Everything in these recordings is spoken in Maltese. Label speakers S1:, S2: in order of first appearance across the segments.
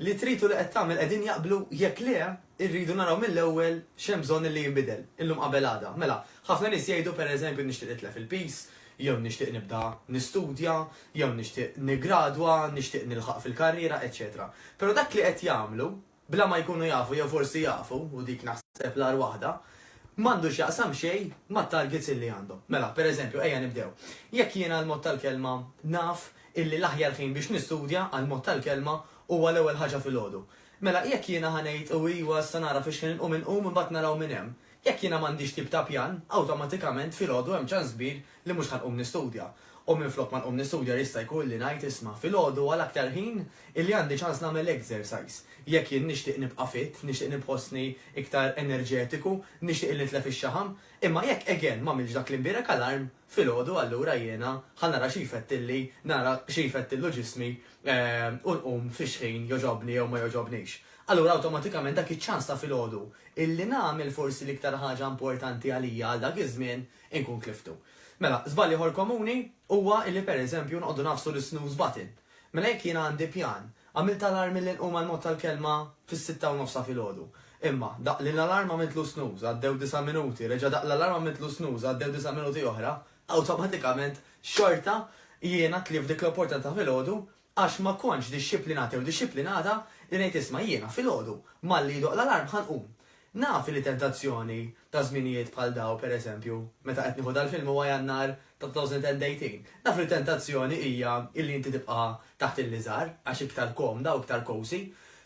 S1: li trid u li qed tagħmel qegħdin jaqblu, jekk le, irridu naraw mill-ewwel x'hemm bżonn illi jinbidel, illum qabel għada. Mela, ħafna nies jgħidu, pereżempju, nixtieq nitlef il-piż, jew nixtieq nibda nistudja, jew nixtieq niggradwa, nixtieq nilħaq fil-karriera, eċċetera Però dak li qed jagħmlu, bla ma jkunu jafu jew forsi jafu, u dik naħseb l-agħar waħda, m'għandu x'jaqsam xejn mat-targets illi għandhom. Mela, per eżempju, ejja nibdew. Jekk jiena għall-mod tal-kelma naf illi l-aħjar ħin biex nistudja, għall-mod tal-kelma, huwa l-ewwel ħaġa filgħodu. Mela, jekk jiena ħa ngħid u iwa issa nara fiex ħin inqum inqum imbagħad naraw minn hemm. Jekk jiena m'għandix tip ta' pjan, awtomatikament filgħodu hemm ċans kbir li mhux ħa nqum nistudja, u minflok ma nqum nistudja jista' jkun li ngħid isma' filgħodu għal aktar ħin illi għandi ċans nagħmel exercise. Jekk jien nixtieq nibqa' fit, nixtieq nibħossni iktar enerġetiku, nixtieq illi nitlef ix-xaħam. Imma jekk again m'għamiltx dak li mbierek alarm, filgħodu allura jiena ħa nara xi jfettilli, nara xi jfettillu ġismi u nqum fix ħin jogħġobni jew ma jogħġobnix. Allura awtomatikament dak iċ-ċans ta' filgħodu illi nagħmel forsi l-iktar ħaġa importanti għalija għal dak iż-żmien Inkun tliftu. Mela, żball ieħor komuni huwa illi pereżempju noqogħdu ngħaffsu l-isnooze button. Mela jekk jiena għandi pjan, għamilt alarm milli nqum għall-mod tal-kelma fis-sitta u nofs ta' filgħodu. Imma, daqq lill-alarm għamiltlu snooze, għaddew disa' minuti, reġa' daqq l-alarm għamiltlu snooze, għaddew disa' minuti oħra, awtomatikament xorta jiena tlift dik l-opportunità ta' filgħodu Għax ma kontx dixxiplinat jew dixxiplinata li ngħid isma' jiena, filgħodu, malli jidoqq l-alarm ħa nqum. Naf li tentazzjoni ta' żminijiet bħal dawn, per eżempju, meta qed nieħu dal-film huwa Jannar ta' 2018, naf li tentazzjoni hija illi inti tibqa' taħt il-liżar għax iktar komda u iktar cosy.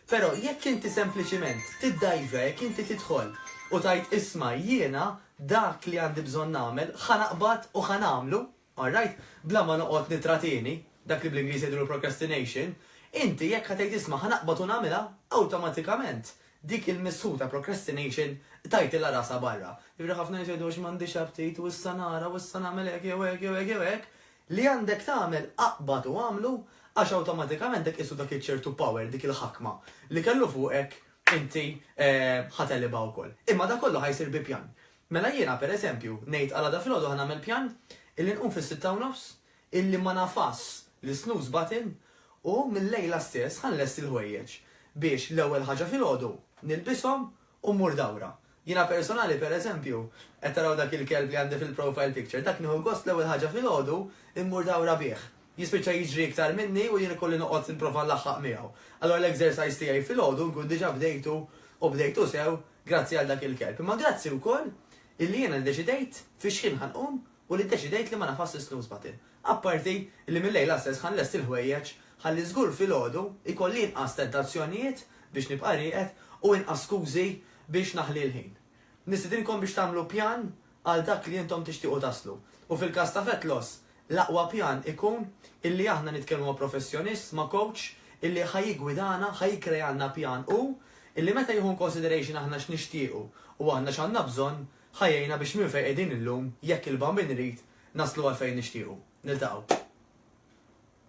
S1: Però jekk inti sempliċiment tiddajġa, jekk inti tidħol u tgħid isma' jiena dak li għandi bżonn nagħmel ħa naqbad u ħa nagħmlu, All right, bla ma noqgħod nittratieni, dak li bl-Ingliż jgħidulu procrastination, inti jekk ħa tgħid isma' ħa naqbad u nagħmilha, awtomatikament dik il-missħu ta' procrastination tajtilha rasha barra. Jiġifieri ħafna nies jgħidu għax m'għandix aptit u issa nara u issa nagħmel hekk jew hekk jew hekk jew hekk, li għandek tagħmel aqbad u agħmlu għax awtomatikament dak qisu dak iċ-ċertu power, dik il-ħakma li kellu fuqek inti ħa telibha wkoll. Imma dak kollu ħa jsir bi pjan. Mela jiena, per eżempju, ngħid għal għada filgħodu ħa nagħmel pjan illi nqum fis-sitta u nofs, illi ma nagħfasx l-snooze button u mil-lejla stess ħa nlesti l-ħwejjeġ biex l-ewwel ħaġa filgħodu nilbishom u mmur dawra. Jiena personali, per eżempju, qed taraw dak il-kelb li għandi fil-profile picture, dak nieħu gost l-ewwel ħaġa filgħodu mmur dawra bih. Jispiċċa jiġri iktar minni u jien ikolli noqgħod nipprova nlaħħaq miegħu. Allura l-exercise tiegħi filgħodu nkun diġà bdejtu u bdejtu sew Grazzi għal dak il-kelb, imma grazzi wkoll illi jiena ddeċidejt fiex ħin ħa nqum u li ddeċidejt li ma nafasx is-snooze button. Apparti li mil-lejla stess ħa nlesti l-ħwejjeġ ħalli żgur filgħodu jkolli inqas tentazzjonijiet biex nibqa' rieqed u inqas skużi biex naħli l-ħin. Nistidinkom biex tagħmlu pjan għal dak li intom tixtiequ taslu. U fil-każ ta' Vetlos, l-aqwa pjan ikun illi aħna nitkellmu ma' professjonist, ma' coach illi ħa jiggwidana, ħa jikkrealna pjan hu illi meta jieħu in consideration aħna x'nixtiequ u aħna x'għandna bżonn, ħa jgħinna biex minn fejn qegħdin illum, jekk il-Bambin irid, naslu għal fejn nixtiequ. Niltaqgħu.